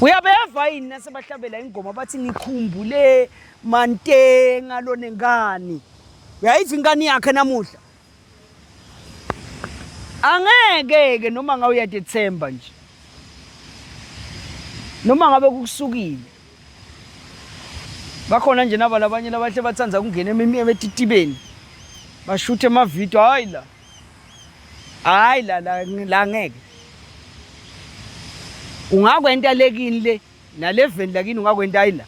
uyabeva yini nasebahlabela ingoma bathi ngikhumbule mantenga lone ngani uyayiva ingane yakhe namuhla angeke-ke noma ngabe uyadethemba nje noma ngabe kukusukile bakhona nje naba labanye labahle bathanda ukungena emititibeni bashuthe emavidiyo hhayi la hayi la la la ngeke ungakwenta lekini le naleveni lakini ungakwenta hayi la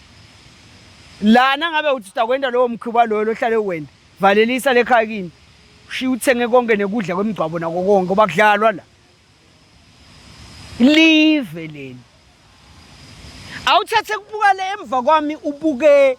lana ngabe uthi utakwenta lowo mkhuba loyo lohlale wena valelisa lekhaya kini shiya uthenge konke nekudla kwemigcwabo nako konke ngoba kudlalwa la live leli awuthathe kubuka le emva kwami ubuke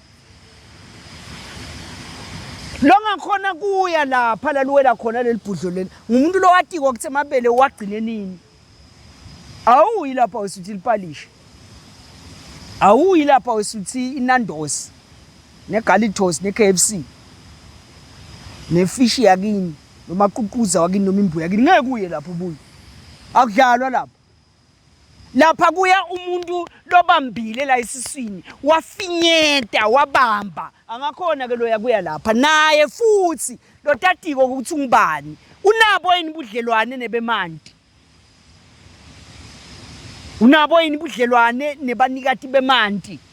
longakhona kuya lapha laluwela khona leli bhudlo leli ngumuntu lowatiko ukuthi amabele uwagcine nini awuyi lapha wesuthi lipalishe awuyi lapha wesuthi inandos negalitos ne-k f c nefishi yakini nomaququza wakini noma imbuya yakini ngeke uye lapho ubuye akudlalwa lapho lapha kuya umuntu lobambile la esiswini wafinyeta wabamba angakhona ke loya kuya lapha naye futhi lotatiko ukuthi ungubani unabo yini budlelwane nebemanti unabo yini budlelwane nebanikati bemanti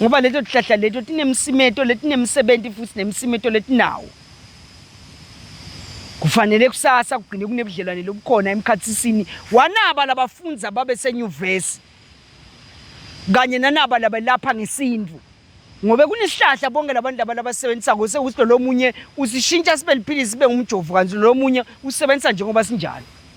ngoba leto tihlahla leto tinemsimeto letinemsebenzi futhi nemsimeto letinawo kufanele kusasa kugcine kunebudlelwane lobukhona emkhathisini wanaba labafundi ababe senyuvesi kanye nanaba labelapha ngesintu ngobe kunesihlahla bonke labantu laba labasebenzisa ngose ukuthi lo munye usishintsha sibe liphilisi sibe ngumjovu kanti lo munye usebenzisa njengoba sinjalo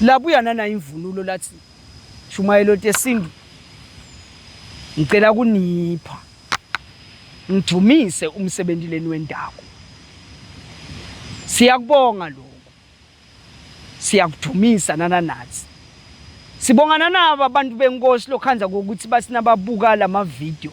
Labuya nana imvunulo lathi shumayelo tesintu ngicela kunipha ngidumise umsebenzi leni wendawo siyakubonga lokho siyakudumisa nana nathi sibonga nanaba abantu benkosi lokhanza kokuthi basinababuka lama video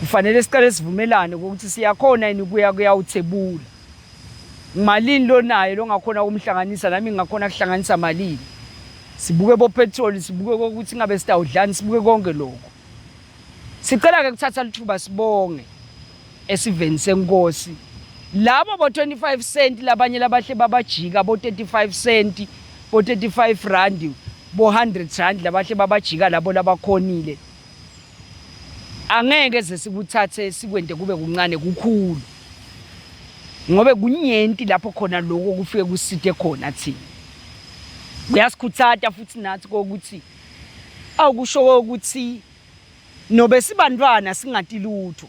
kufanele siqale sivumelane ukuthi siyakhona yini kuya kuyawuthebula malini lonayo longakhona ukumhlanganisa nami ngingakhona kuhlanganisa malini sibuke bopetroli sibuke kokuthi ingabe sitawudlani sibuke konke lokho sicela-ke kuthatha lithuba sibonge esiveni senkosi labo bo-25 cent labanye labahle babajika bo-35 cent bo-35 rand bo-100 rand labahle babajika labo labakhonile Angeke ze sikuthathe sikwende kube kuncane kukhulu. Ngobe kunyenti lapho khona lokho kufike kusithe khona thina. Kuyasikhuthata futhi nathi kokuthi awukusho ukuthi nobe sibantwana singati lutho.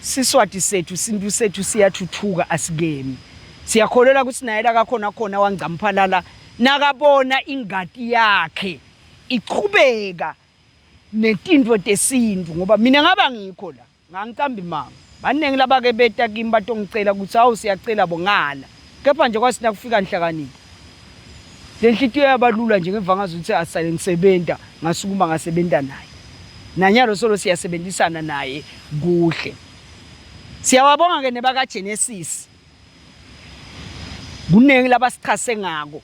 Siswati sethu sintu sethu siyathuthuka asikemi siyakholelwa ukuthi naye lakakhona khona wangcamphalala nakabona ingati yakhe ichubeka netintfo tesintu ngoba mina ngaba ngikho la ngangicamba imanga baningi labake beta kimi batongicela kutsi awu siyacela bo ngala Kepha nje kwasi nakufika nhlakanipho. Le nhlikiyo yabalula nje ngemva ngazo ukuthi asale ngisebenza ngasukuma ngasebenza naye. Nanyalo solo siyasebenzisana naye kuhle. Siyawabonga ke nebaka Genesis. Kuningi labasichase ngako.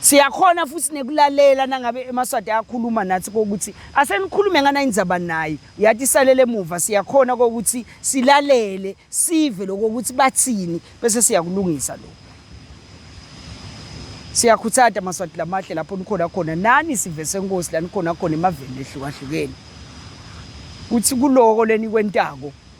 Siyakhona futhi nekulalela nangabe emaswati ayakhuluma nathi kokuthi asenikhulume ngana indzaba naye uyati isalele emuva siyakhona kokuthi silalele sive lokho ukuthi bathini bese siyakulungisa lokho siyakhuthata maswati lamahle lapho nikhona khona nani sive senkosi lanikhona khona emaveni ehlukahlukene kuthi kuloko lenikwentako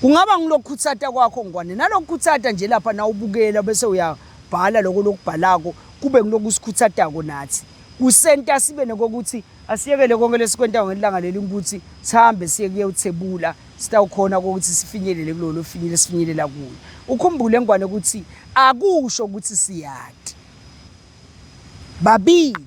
Kungaba ngilokukhutsata kwakho ngwane nalokukhutsata nje lapha nawubukela bese uyabhala lokho lokubhalako kube ngilokusikhutsatako nathi kusenta sibe nekokuthi asiyekele konke lesikwentayo ngelanga leli ukuthi sihambe siye kuyewuthebula sitawukhona ukuthi sifinyelele kulo lofinyele sifinyelela kuyo ukhumbule ngwane ukuthi akusho ukuthi siyati babili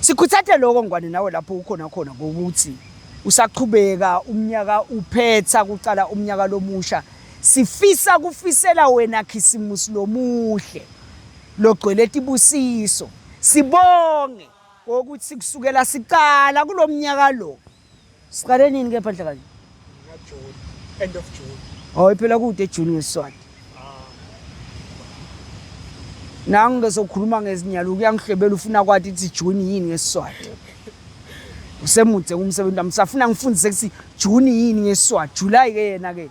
Sikhuthathe lokho ngwane nawe lapho ukhona khona ngokuthi usaqhubeka umnyaka uphetha kuqala umnyaka lomusha sifisa kufisela wena khisimusi lomuhle logcwele tibusiso sibonge ukuthi kusukela siqala kulomnyaka lo Siqale nini kepha nhlakazi? June, end of June. Oh, iphela kude June ngesiswati. Nangu bese ukhuluma ngezinyalo uyangihlebela ufuna kwathi ithi June yini ngesiswati. Usemudze umsebenzi wami safuna ngifundise ukuthi June yini ngesiswati, July ke yena ke.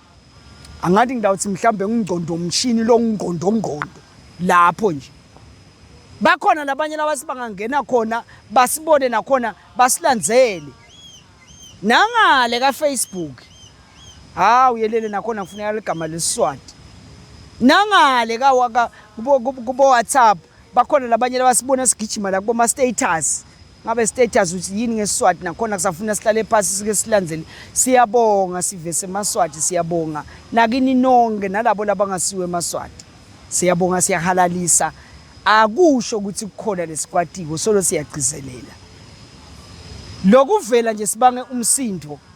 angathi ngidawuthi mhlawumbe ngingqondo umshini lo ngqondongqondo lapho nje bakhona nabanye labasi bangangena khona basibone nakhona basilandzele nangale kafacebook hawu yelele nakhona kufuneka ligama lesiswati nangale kubo-whatsapp bakhona labanye labasibona sigijima la kuboma-status ngabe status uthi yini ngesiswati nakhona kusafuna sihlale phasi sike silandzele siyabonga sivese emaswati siyabonga nakini nonke nalabo labangasiwe emaswati siyabonga siyahalalisa akusho ukuthi kukhona lesikwatiko solo siyagcizelela lokuvela nje sibange umsindo